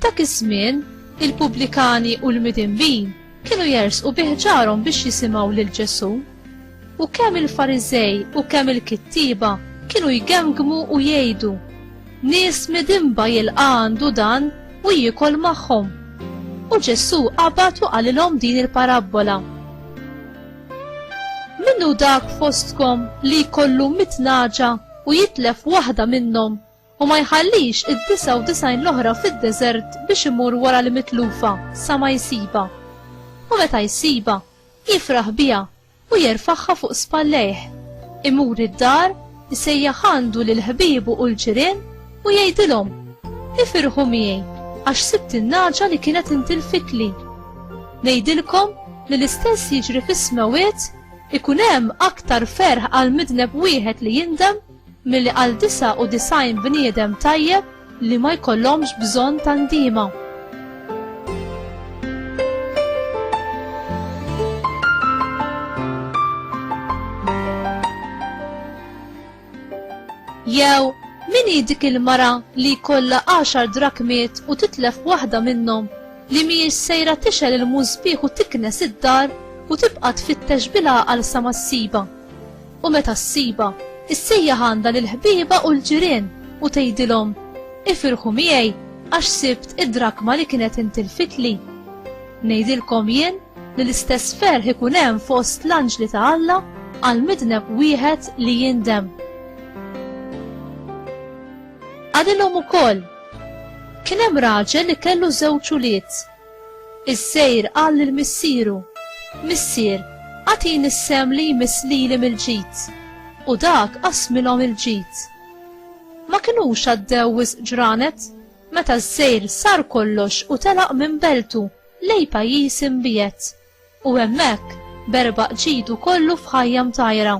F'dak iż-żmien, il-pubblikani u l-midinbin kienu jersqu biħġarhom biex jisimgħu lil Ġesù. U kemm il-Fariżej u kemm il-kittieba kienu jgemgmu u jgħidu, Nies midinba jilqa' għandu dan u jiekol magħhom. U Ġesù qabad u qalilhom din il-parabbola. Minnu dak fostkom li jkollu mit naġa u jitlef waħda minnhom u ma jħallix id-disa u disajn l-oħra fid-deżert biex imur wara l-mitlufa sa ma jsiba. U meta jsiba, Jifraħ biha u jerfagħha fuq spallejh. Imur id-dar, isejjaħ għandu lil ħbiebu u l-ġirien u jgħidilhom, Ifirħu miegħi għax sibt in-nagħġa li kienet intilfitli. Ngħidilkom li l-istess jiġri fis-smewwiet ikun hemm aktar ferħ għal midneb wieħed li jindem milli għal 99 bniedem tajjeb li ma jkollhomx bżonn ta' ndiema. Jew min hi dik il-mara li jkollha għaxar drakmiet u titlef waħda minnhom li mhijiex sejra tixel il-mużbieħ u tiknes id-dar u tibqa' tfittex bil-għaqal sa ma ssiba. U meta ssibha, issejjaħ għandha lill-ħbieba u l-ġirien u tgħidilhom, 'Ifirħu miegħi għax sibt id-drakma li kienet intilfitli. Ngħidilkom jien li l-istess ferħ ikun hemm fost l-anġli ta' Alla għal midneb wieħed li jindem. Qalilhom ukoll, Kien hemm raġel li kellu żewġ ulied. Is-sejr qal lil missieru, Missier, agħtini s-sehem li jmiss lili mill-ġid. U dak qassmilhom il-ġid. Ma kinux għaddew wisq ġranet meta s-sejr sar kollox u telaq minn beltu lejn pajjiż imbiegħed. U hemmhekk berbaq ġidu kollu f'ħajja mtajra.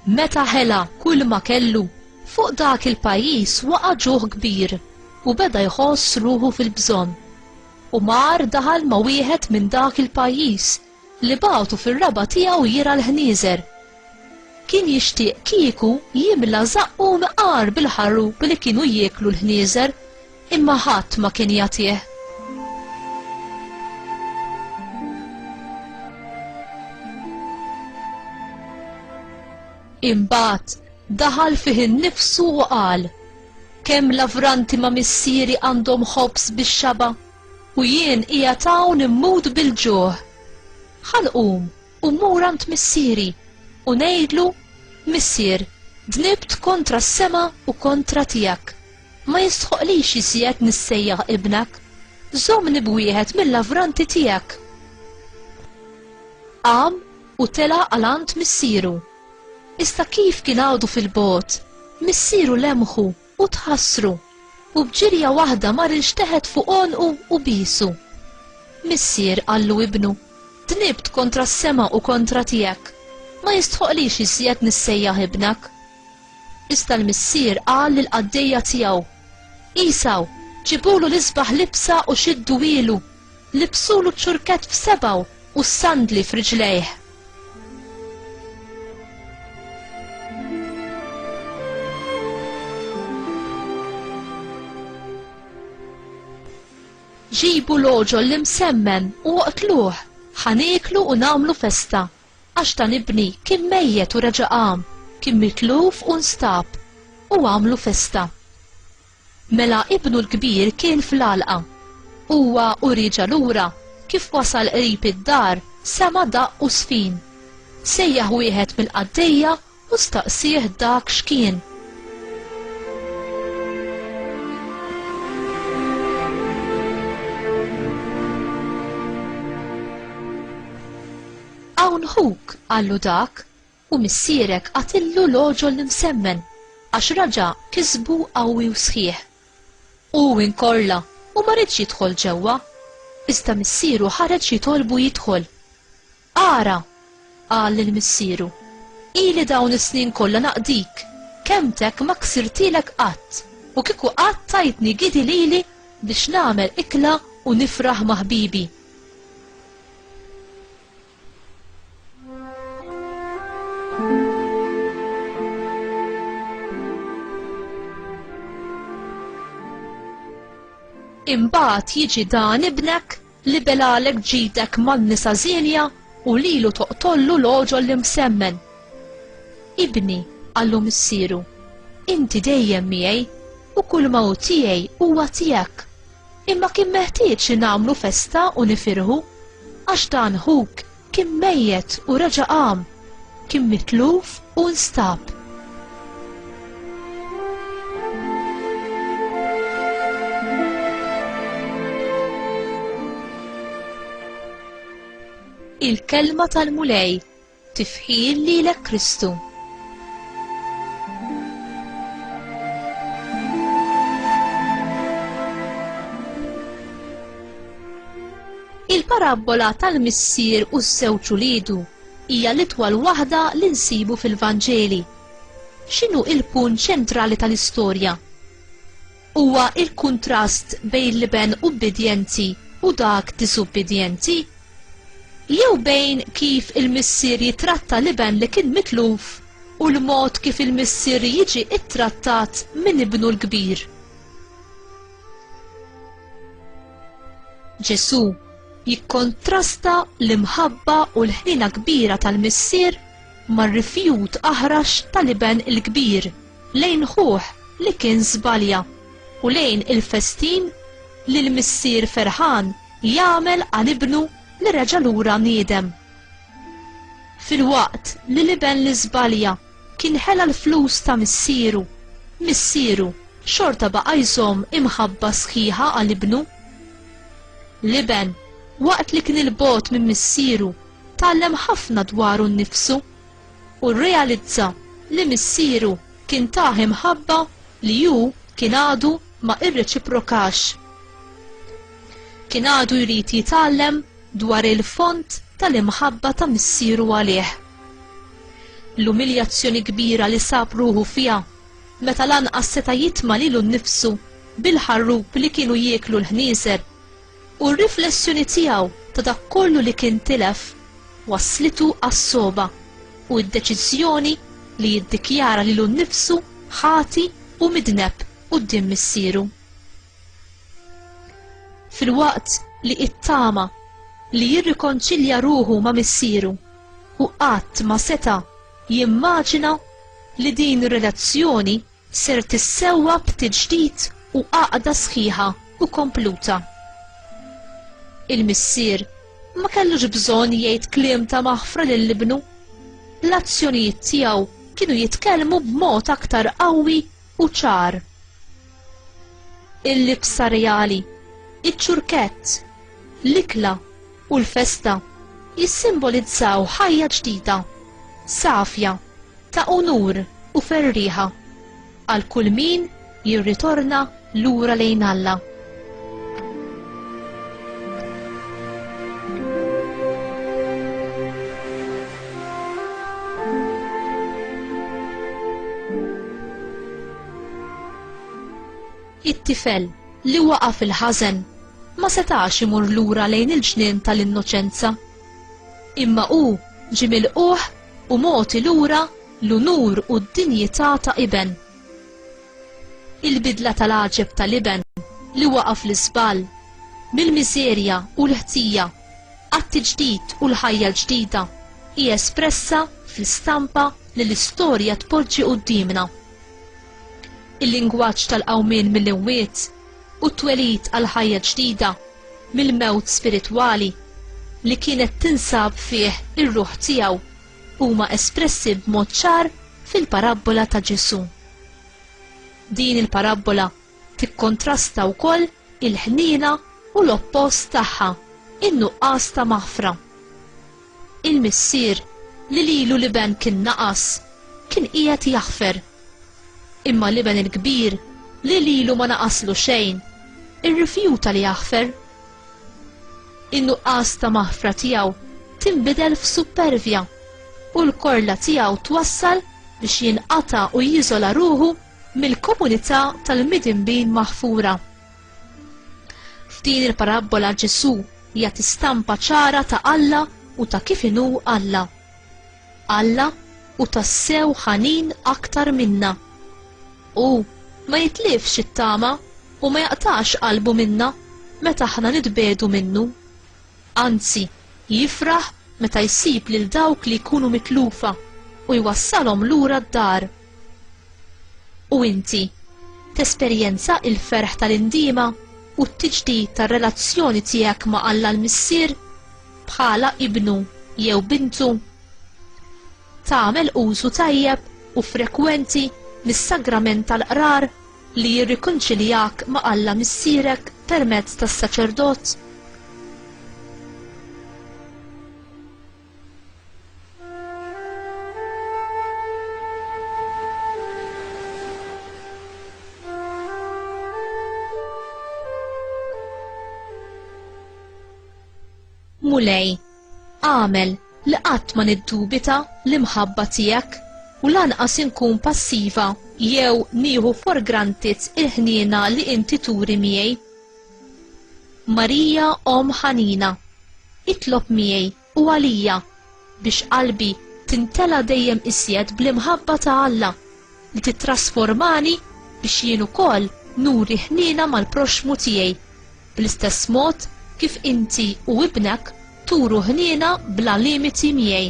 Meta ħela kull ma kellu, fuq dak il-pajjiż waqa' ġuħ kbir u beda jħoss ruħu fil-bżonn. U mar daħal ma' wieħed minn dak il-pajjiż li bagħtu fir-raba' tiegħu jirgħa l-ħnieżer. Kien jixtieq kieku jimla żaqqu mqar bil-ħarrup li kienu jieklu l-ħnieżer, imma ħadd ma kien jagħtih. Imbagħad daħal fih innifsu u qal, Kemm lavranti ma' missieri għandhom ħobż bix-xaba'? U jien qiegħed hawn immut bil-ġuħ. Ħa nqum u mmur għand missieri, u ngħidlu, Missier, dnibt kontra s-sema u kontra tiegħek. Ma jistħoqlix iżjed nissejjaħ ibnek. Żommni b'wieħed mill-lavranti tiegħek. Qam u tela' għal għand missieru. Iżda kif kien għadu fil-bogħod, missieru lemħu U tħassru, u b'ġirja waħda mar ilxteħet fuq għonqu u biesu. Missier, qallu ibnu, dnibt kontra s-sema u kontra tiegħek, ma jistħoqlix iżjed nissejjaħ ibnek. Iżda l-missier qal lill-qaddejja tiegħu, Għesaw, ġibulu l-isbaħ libsa u xidduhielu, Libsulu ċ-ċurkett f'sebgħu u s-sandli f'riġlejh. ġibu l-oġol li msemmen u oqtluh, ħaniklu u namlu festa, għax dan ibni kien mejjet u reġa' qam, kien mitluf u nstab, u għamlu festa. Mela ibnu l-kbir kien fl-għalqa. Huwa u rieġa' lura, kif wasal qrib id-dar, sema' daqq u żfin. Sejjaħ wieħed mill-qaddejja u staqsieh dak x'kien. Hawn ħuk, qallu dak. U missierek għatillu l-għoġol l-imsemmen, għax raġa' kisbu qawwi u sħiħ. U hu inkorla u ma riedx jidħol ġewwa. Iżda missieru ħareġ jitolbu jidħol. Ara! qal lil missieru, ili dawn is-snin kollha naqdik, kelmtek ma ksirtilek qatt, u kieku qatt tajtni gidi lili biex nagħmel ikla u nifraħ ma' ħbibi. Imbagħad jiġi dan ibnek li belalek ġidek man-nisa żienja u lilu toqtollu l-oġol li msemmen. Ibni, għallu missiru, inti dejjem miegħi u kull mawt tiegħi huwa tiegħek. Imma kien meħtieġ li nagħmlu festa u nifirħu, għax dan ħuk kien mejjet u reġa' qam, kien mitluf u nstab. Il-kelma tal-Mulej Tifħir lilek Kristu. Il-parabbola tal-missier u ż-żewġ uliedu hija l-itwal waħda li nsibu fil-Vanġeli. X'inhu il-punt ċentrali tal-istorja? huwa l-kuntrast bejn l-iben ubbidjenti u dak disubbidjenti? Jew bejn kif il-missier jitratta l-iben li kien mitluf u l-mod kif il-missier jiġi ttrattat minn ibnu l-kbir? Ġesù jikkontrasta l-imħabba u l-ħniena kbira tal-missier mar-rifjut aħrax tal-iben il-kbir. lejn ħuh li kien żbalja u lejn il-festin li l-missier ferħan jagħmel għal ibnu li reġa' lura niedem. Filwaqt li l-iben li żbalja kien ħela l-flus ta' missieru, missieru xorta baqa' jżomm imħabba sħiħa għal ibnu. L-iben, waqt li kien 'il bogħod minn missieru, tgħallem ħafna dwaru nnifsu. u rrealizza li missieru kien tah imħabba li hu kien għadu ma irreċiprokax. Kien għadu jrid jitgħallem dwar il-fond tal-imħabba ta' missieru għalih. L-umiljazzjoni kbira li sab ruħu fiha meta lanqas seta' jitma' lilu nnifsu bil-ħarrub li kienu jieklu l-ħnieżer u r-riflessjoni tiegħu ta' dak kollu li kien tilef wasslitu għas-sogħba u d-deċiżjoni li jiddikjara lilu nnifsu ħati u midneb quddiem Missieru. Filwaqt li ittama li jirrikonċilja ruħu ma' Missieru, hu qatt ma seta' jimmaġina li din ir-relazzjoni ser tissewwa b'tiġdid u għaqda sħiħa u kompluta. Il-missier ma kellux bżonn jgħid kliem ta' maħfra lil ibnu. L-azzjonijiet tiegħu kienu jitkellmu b'mod aktar qawwi u ċar. Il-libsa reali, iċ-ċurkett, l-ikla, u l-festa jissimbolizzaw ħajja ġdida, safja, ta' unur u ferrieħa għal kull min jirritorna lura lejn Alla. It-tifel, li waqa' fil-ħażen, ma setax imur lura lejn il-ġnien tal-innoċenza. Imma hu ġie milqugħ u mogħti lura l-unur u d-dinjità ta' iben. Il-bidla tal-għaġeb tal-iben li waqa' fl-iżball, mill-miżerja u l-ħtija għat-tiġdid u l-ħajja l-ġdida, hi espressa fl-istampa li l-istorja tpoġġi quddiemna. il-lingwaġġ tal-qawmien mill-imwiet u t-twelid għal ħajja ġdida mill-mewt spiritwali li kienet tinsab fih ir-ruħ tiegħu huma espressi b'mod ċar fil-parabbola ta' Ġesù. Din il-parabbola tikkontrasta wkoll il-ħniena u l-oppost tagħha, in-nuqqas ta' maħfra. Il-missier, li lilu l-iben kien naqas, kien qiegħed jaħfer. Imma l-iben il-kbir, li lilu ma naqaslu xejn, irrifjuta li jaħfer. In-nuqqas ta' maħfra tiegħu tinbidel f'suppervja u l-korla tiegħu twassal biex jinqata' u jiżola ruħu mill-komunità tal-midinbin maħfura. F'din il-parabbola Ġesù jagħti stampa ċara ta' Alla u ta' kif inhu Alla. Alla hu tassew ħanin aktar minna. Hu ma jitlifx it-tama u ma jaqtax qalbu minna meta aħna nitbiegħdu minnu. Anzi, jifraħ meta jsib lil dawk li jkunu mitlufa u jwassalhom lura d-dar. U inti tesperjenza il-ferħ tal-indiema u t-tiġdid tar-relazzjoni tiegħek ma' Alla l-Missier bħala ibnu jew bintu? Tagħmel użu tajjeb u frekwenti mis-sagrament tal-qrar li jirrikonċiljak ma' Alla Missierek permezz tas-saċerdot? Mulej, għamel li qatt ma niddubita l-imħabba tiegħek u lanqas inkun passiva jew nieħu for granted il-ħniena li inti turi miegħi. Marija omm ħanina, itlob miegħi u għalija biex qalbi timtela dejjem iżjed bl-imħabba ta' Alla li tittrasformani biex jien ukoll nuri ħniena mal-proxxmu tiegħi bl-istess mod kif inti u ibnek turu ħniena bla limiti miegħi.